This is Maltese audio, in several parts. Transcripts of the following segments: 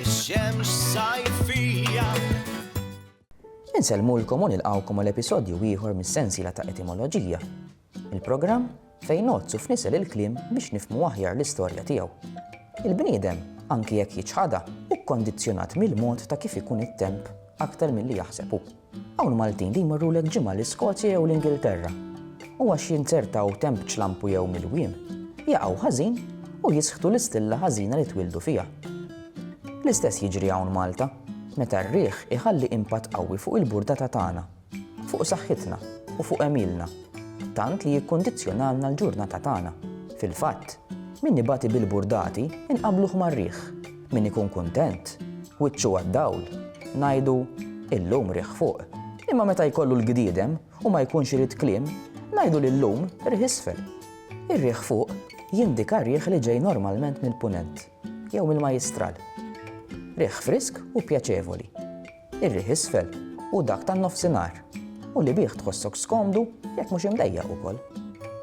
Ix-xemx sajfija. Insellmulkom u nilqawkom għal episodju ieħor mis-sensiela ta' etimoloġija. Il-programm fejn nozzu f'nisel il-kliem biex nifmu aħjar l-istorja tiegħu. Il-bniedem, anki jekk jiċħada, u kondizzjonat mill-mod ta' kif ikun it-temp aktar milli jaħseb hu. Hawn Maltin li jmorrulek ġimgħa l-Iskozja jew l-Ingilterra u għax jinzertaw temp ċlampu jew milwiem, jaqgħu ħażin u jisħtu l-istilla ħażina li twieldu fiha. L-istess jiġri hawn Malta, meta r-riħ iħalli impatt qawwi fuq il-burdata tagħna, fuq saħħitna u fuq għemilna, tant li jikkundizzjonalna l-ġurnata tagħna. Fil-fatt, min ibati bil-burdati inqabluh mar-riħ. Min ikun kuntent, wiċċu għad-dawl, ngħidu, Illum riħ fuq. Imma meta jkollu l-gdiedem u ma jkunx irid kliem, ngħidu li llum riħ isfel. Ir-riħ fuq jindika riħ li ġej normalment mill-Punent jew mill-Majjistral. Riħ frisk u pjaċevoli. ir-riħ isfel u dak tan-nofsinhar, u li bih tħossok skomdu jekk mhux imdejjaq ukoll.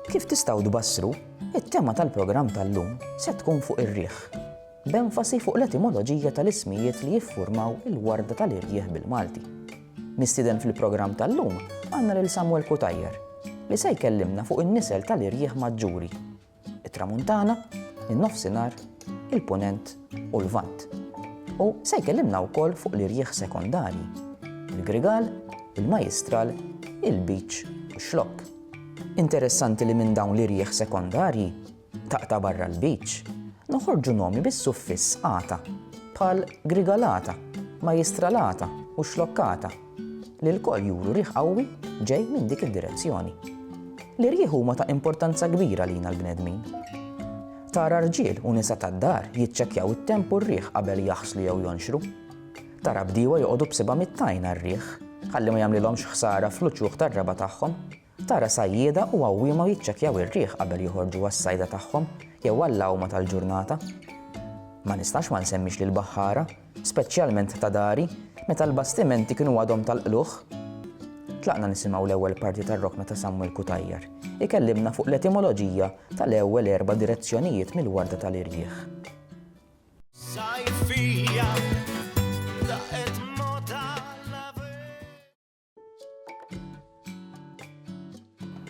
Kif tistgħu tbassru, it-tema tal-programm tal-lum se tkun fuq ir-riħ, b'enfasi fuq l-etimoloġija tal-ismijiet li jiffurmaw il-warda tal-irjieħ bil-Malti. Mistieden fil-programm tal-lum għandna lil Samuel Cutajar, li se jkellimna fuq in-nisel tal-irjieħ maġġuri it-Tramuntana, in-Nofsinhar, il-Punent u l-Lvant. U se jkellimna wkoll fuq l-irjieħ sekondarji, il-Grigal, il-Majistral, il-Beach u x-Xlokk. Interessanti li minn dawn l-irjieħ sekondarji, taqta' barra l-Beach, noħorġu nomi bis-suffiss ata, bħal Grigalata, Majistralata u Xlokkata. li lkoll juru riħ qawwi ġej minn dik id-direzzjoni. L-irjieħ huma ta' importanza kbira lina l-bnedmin. Tara rġiel u nisa tad-dar jiċċekkjaw it-temp u r-riħ qabel jaħslu jew jonxru. Tara bdiewa joqogħdu b'sibgħa mit-tajn għar-riħ ħalli ma jagħmlilhomx ħsara fl-uċuħ tar-raba' tagħhom Tara sajjieda u għawwiema jiċċekkjaw ir-riħ qabel joħorġu għas-sajda tagħhom jew għall-għawma tal-ġurnata. Ma nistax ma nsemmix lill-baħħara, speċjalment ta' dari, meta l-bastimenti kienu għadhom tal-qlugħ. Tlaqna nisimgħu l-ewwel parti tar-rokna ta' Samuel Cutajar, ikellimna fuq l-etimoloġija tal-ewwel erba' direzzjonijiet mill-warda tal-irjieħ.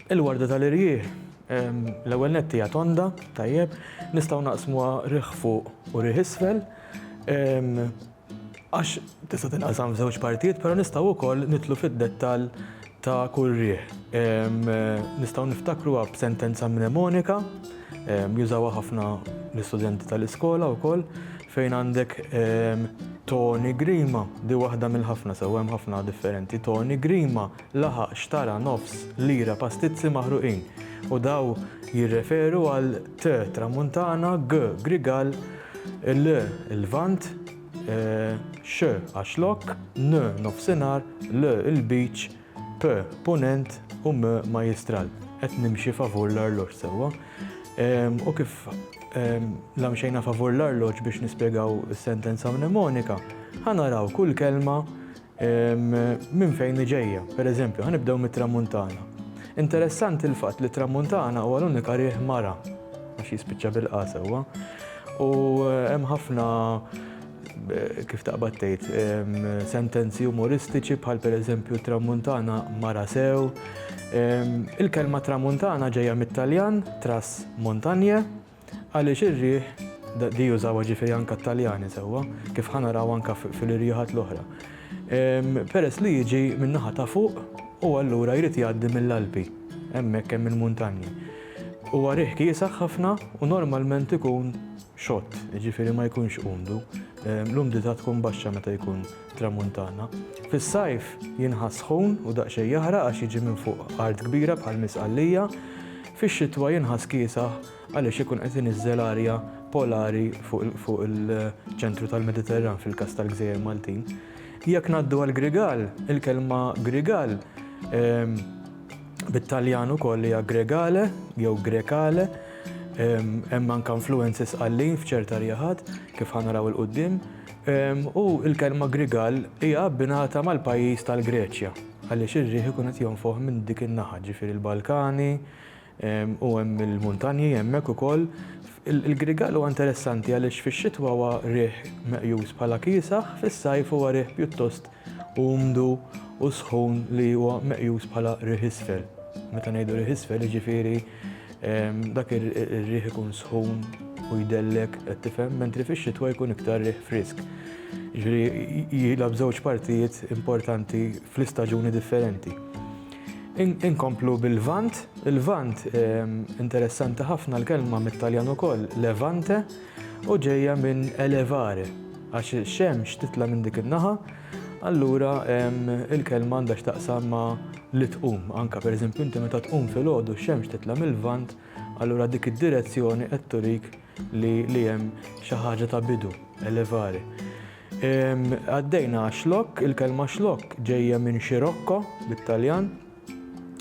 Il-warda tal-irjieħ l-ewwel nett hija tonda, tajjeb, nistgħu naqsmuha riħ fuq u riħ isfel. Għax tista' tinqasam żewġ partijiet, però nistgħu wkoll nitlu fid-dettall ta' kull riħ. Nistgħu niftakruha b'sentenza mnemonika Jużawha ħafna l-istudenti tal-iskola wkoll fejn għandek Toni Grima, di waħda mill-ħafna sew hemm ħafna differenti. Toni Grima laħaq xtara nofs lira pastizzi maħruqin u daw jirreferu għal T tramuntana, G grigal, L il-vant, X għax lok, N nofsinhar, L il-beach, P, Punent, u M, Majjistral. Qed nimxi favur l-arloġġ sewwa. U kif la mxejna favur l-arloġġ biex nispjegaw is-sentenza mnemonika, ħa naraw kull kelma minn fejn hi ġejja. Per eżempju, ħa nibdew mit-tramuntana. Interessanti l-fatt li tramuntana huwa l-unika riħ mara għax jispiċċa bil-qa sewwa. U hemm ħafna kif taqbad tgħid, sentenzi umoristiċi bħal pereżempju Tramuntana mara sew. Il-kelma Tramuntana ġejja mit-Taljan tras montagne għaliex ir-riħ di jużawha ġifieri anke t-Taljani sewwa, kif ħa naraw anke fil-irjiħat l-oħra. Peress li jiġi min-naħa ta' fuq u allura jrid jgħaddi mill-Alpi, hemmhekk hemm il-muntanji. Huwa riħ kiesaħ ħafna u normalment ikun xott, jiġifieri ma jkunx umdu. L-umdità tkun baxxa meta jkun tramuntana. Fis-sajf jinħass sħun u daqsxejn jaħraq għax jiġi minn fuq art kbira bħal Misqallija. Fix-xitwa jinħass kiesaħ għaliex ikun qed iniżżel arja polari fuq il-ċentru tal-Mediterran fil-każ tal-gżejjer Maltin. Jekk ngħaddu għall-Grigal, il-kelma Grigal, bit-Taljan ukoll hija Gregale jew Grecale, Hemm anke influenzi Sqallin f'ċerta rieħat, kif ħa naraw 'il quddiem, u l-kelma Grigal hija abbinata mal-pajjiż tal-Greċja għaliex ir-riħ ikun qed jonfoħ minn dik in-naħa, ġifieri l-Balkani u hemm il-muntanji hemmhekk ukoll. Il-Grigal huwa interessanti għaliex fix-xitwa huwa riħ meqjus bħala kiesaħ, fis-sajf huwa riħ pjuttost umdu u sħun li huwa meqjus bħala riħ isfel. Meta ngħidu riħ isfel jiġifieri dak ir-riħ ikun sħun u jdellek qed tifhem, mentri fix-xitwa jkun iktar riħ frisk. Jiġifieri jilgħab żewġ partijiet importanti fl-istaġuni differenti. Inkomplu bil-Lvant, il-Lvant interessanti ħafna l-kelma mit-Taljan ukoll, levante, u ġejja minn elevare, għax ix-xemx titla' minn dik in-naħa, allura l-kelma għandha x'taqsam ma' li tqum. Anke pereżempju inti meta tqum filgħodu x-xemx titla' mil-Lvant, allura dik id-direzzjoni qed turik li li hemm xi ħaġa ta' bidu, elevare. Għaddejna għax-xlokk, il-kelma xlokk ġejja minn scirocco bit-Taljan,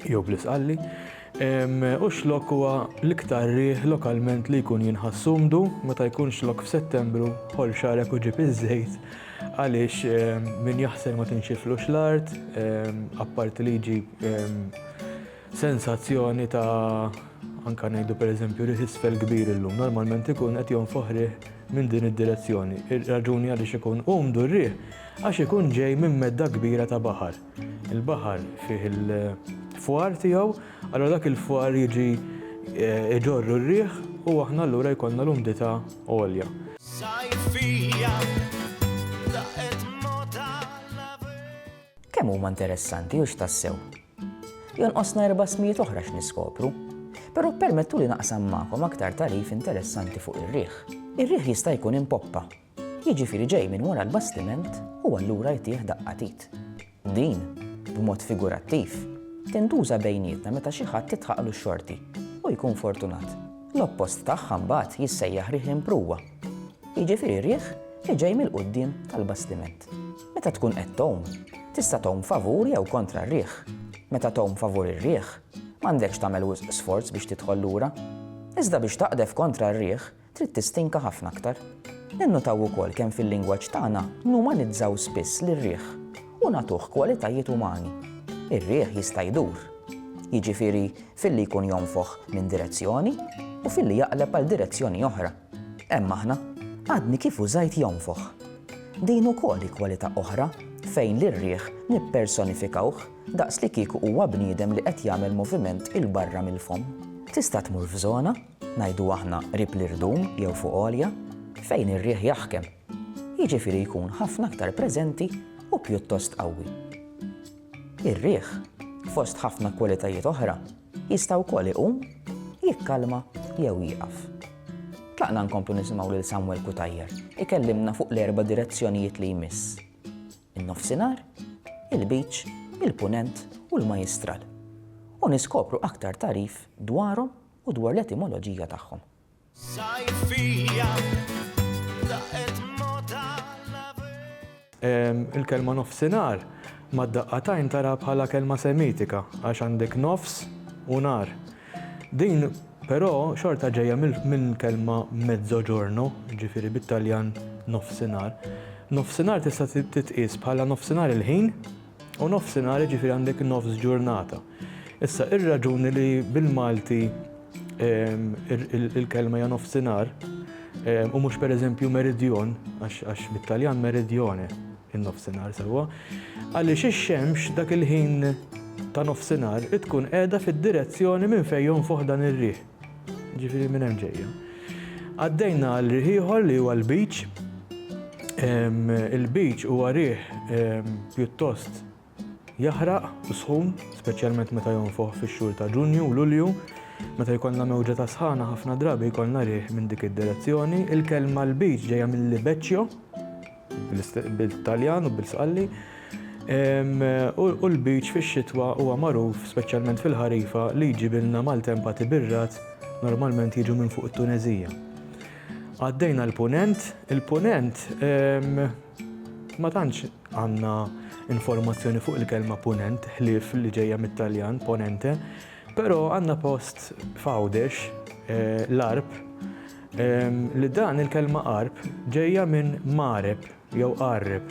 jew bl-isqalli, u x'lokk huwa l-iktar riħ lokalment li jkun jinħass sumdu meta jkun x'lokk f'Settembru ħol xarek u ġib iż-żejt għaliex min jaħsel ma tinxiflux l-art apparti li jġib sensazzjoni ta' anka ngħidu pereżempju riħ isfel kbir illum normalment ikun qed jonfoħ riħ minn din id-direzzjoni. Ir-raġuni għaliex ikun umdu r-riħ għax ikun ġej minn medda kbira ta' baħar. Il-baħar fih il-fwar tiegħu, allura dak il-fwar jiġi jġorru r-riħ u aħna allura jkollna l-umdità għolja. Kemm huma interessanti hux tassew! Jonqosna erba' smijiet oħra x'niskopru, però permettuli naqsam magħkom aktar tagħrif interessanti fuq ir-riħ. Ir-riħ jista' jkun impoppa, jiġifieri ġej minn wara l-bastiment u allura jtih daqqa t'id. Din, b'mod figurattiv, tintuża bejnietna meta xi ħadd titħaqlu x-xorti u jkun fortunat. L-oppost tagħha mbagħad jissejjaħ riħ imprugħa, jiġifieri riħ li ġej mill-quddiem tal-bastiment. Meta tkun qed tgħum, tista' tgħum favur jew kontra r-riħ. Meta tgħum favur ir-riħ, m'għandekx tagħmel wisq sforz biex tidħol lura. Iżda biex taqdef kontra r-riħ, Trid tistinka ħafna aktar. Ninnutaw ukoll kemm fil-lingwaġġ tagħna numanizzaw spiss lir-riħ u nagħtuh kwalitajiet umani. Ir-riħ jista' jdur. Jiġifieri filli jkun jonfoħ minn direzzjoni u filli jaqleb għal direzzjoni oħra. Hemm aħna. Għadni kif użajt jonfoħ. Din ukoll hi kwalità oħra fejn lir-riħ nippersonifikawh daqs li kieku huwa bniedem li qed jagħmel moviment 'il barra mill-fomm. Tista' tmur f'żona ngħidu aħna qrib l-irdum jew fuq għolja, fejn ir-riħ jaħkem, jiġifieri jkun ħafna aktar preżenti u pjuttost qawwi. Ir-riħ, fost ħafna kwalitajiet oħra, jista' wkoll iqum, jikkalma jew jieqaf. Tlaqna nkomplu nisimgħu lil Samuel Cutajar ikellimna fuq l-erba' direzzjonijiet li jmiss, in-Nofsinhar, il-Lbiċ, il-Punent u l-Majjistral, u niskopru aktar tagħrif dwarhom u dwar l-etimoloġija tagħhom. Il-kelma nofsinhar mad-daqqatajn tara bħala kelma Semitika għax għandek nofs u nar. Din però xorta ġejja minn kelma mezzoġorno, ġifieri bit-Taljan nofsinhar. Nofsinhar tista' titqies bħala nofsinhar il-ħin, U nofsinhar jiġifieri għandek nofs ġurnata. Issa ir-raġuni li bil-Malti ehm, il-kelma hija nofsinhar ehm, u mhux pereżempju meridjon għax mit-Taljan meridjone in-nofsinhar sewwa. Għaliex ix-xemx dak il-ħin ta' nofsinhar tkun qiegħda fid-direzzjoni minn fejn jonfoħ dan ir-riħ. Ġifieri minn hemm ġejja. Għaddejna għal riħ ieħor li huwa l-beach. Il-beach huwa riħ pjuttost jaħraq u sħun, speċjalment meta jonfoħ fix-xhur ta' Ġunju u Lulju. Meta jkollna mewġa ta' sħana ħafna drabi jkollna riħ minn dik id-direzzjoni. Il-kelma l-beach ġejja mill-libeċċjo, bil-Taljan u bil-Sqalli, u l-beach fix-xitwa huwa magħruf, speċjalment fil-ħarifa, li jġibilna maltempa tibirrat, normalment jiġu minn fuq it-Tuneżija. Għaddejna l-Punent, il-Punent ma tantx għandna informazzjoni fuq il-kelma Punent, ħlief li ġejja mit-Taljan, Ponente, però għandna post f'Għawdex, l-Għarb, Li dan il-kelma qarb ġejja minn mareb jew qarreb,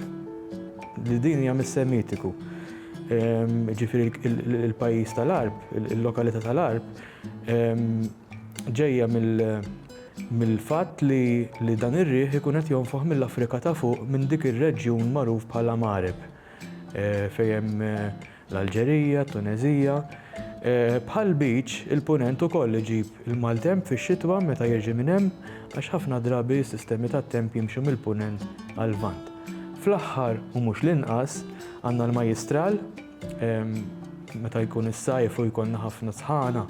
li din hija mis-Semitiku. Ġifieri il-pajjiż tal-Arb, il-lokalità tal-Arb, ġejja mill-fatt li dan ir-riħ ikun qed jonfoħ mill-Afrika ta' fuq minn dik ir-reġjun magħruf bħala Mareb fejn hemm l-Alġerija, t-Tuneżija. Bħal beach, il-Punent ukoll iġib il-maltemp fix-xitwa meta jirġi minn hemm għax ħafna drabi s-sistemi tat-temp jimxu mill-Punent għall-Lvant. Fl-aħħar u mhux l-inqas, għandna l-Majjistral, meta jkun is-sajf u jkollna ħafna sħana,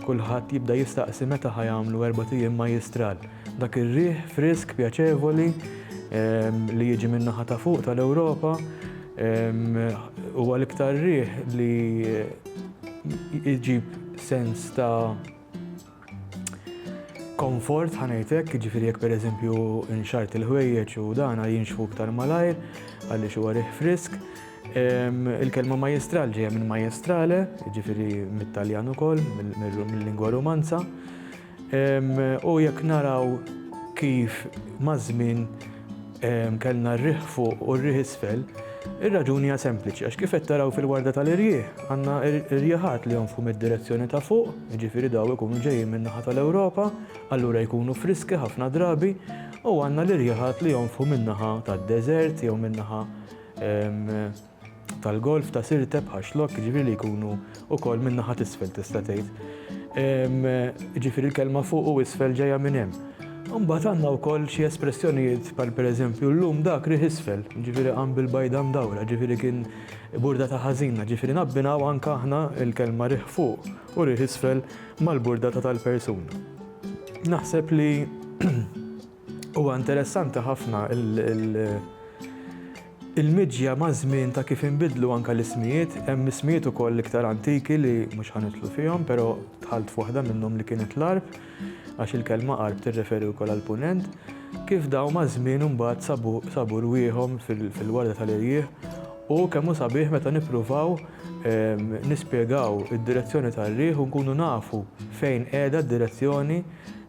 kulħadd jibda jistaqsi meta ħa jagħmlu erbat ijiem Majjistral. Dak ir-riħ frisk pjaċevoli li jiġi min-naħa ta' fuq tal-Ewropa, Huwa l-iktar riħ li jġib sens ta' komfort ħanejtek, ġifiri jek per eżempju nxart il-ħwejjeġ u dana jinxfu iktar malajr, għalli xu għarih frisk. Il-kelma majestral ġeja minn majestrale, ġifiri mit-Taljan ukoll, mill-lingwa romanza. U jekk naraw kif maż-żmien kellna r-riħ fuq u r-riħ isfel, ir-raġuni hija sempliċi għax kif qed taraw fil-warda tal-irjieħ għandna rjieħat li jonfħu mid-direzzjoni ta' fuq, jiġifieri dawn ikunu ġejjin min-naħa tal-Ewropa, allura jkunu friski ħafna drabi, u għandna l-irjieħat li jonfħu min-naħa tad-deżert jew min-naħa tal-golf ta' Sirte bħal Xlokk, jiġifieri li jkunu wkoll minn naħa t'isfel tista' tgħid. Jiġifieri l-kelma fuq u isfel ġejja minn hemm. Imbagħad għandna wkoll xi espressjonijiet bħal pereżempju llum dak riħ isfel, jiġifieri qam bil-bajda mdawra, jiġifieri kien burdata ħażina, jiġifieri nabbinaw anke aħna l-kelma riħ fuq u riħ isfel mal-burdata tal-persuna. Naħseb li Huwa interessanti ħafna il-miġja maż-żmien ta' kif inbidlu anke l-ismijiet. Hemm ismijiet ukoll iktar antiki li mhux ħa nidħlu fihom, però dħalt f'waħda minnhom li kienet l-Għarb, għax il-kelma Għarb tirreferi wkoll għall-Punent, kif dawn maż-żmien imbagħad sabu rwieħhom fil-warda tal-irjieħ u kemm hu sabiħ meta nippruvaw nispjegaw id-direzzjoni tar-riħ u nkunu nafu fejn qiegħda d-direzzjoni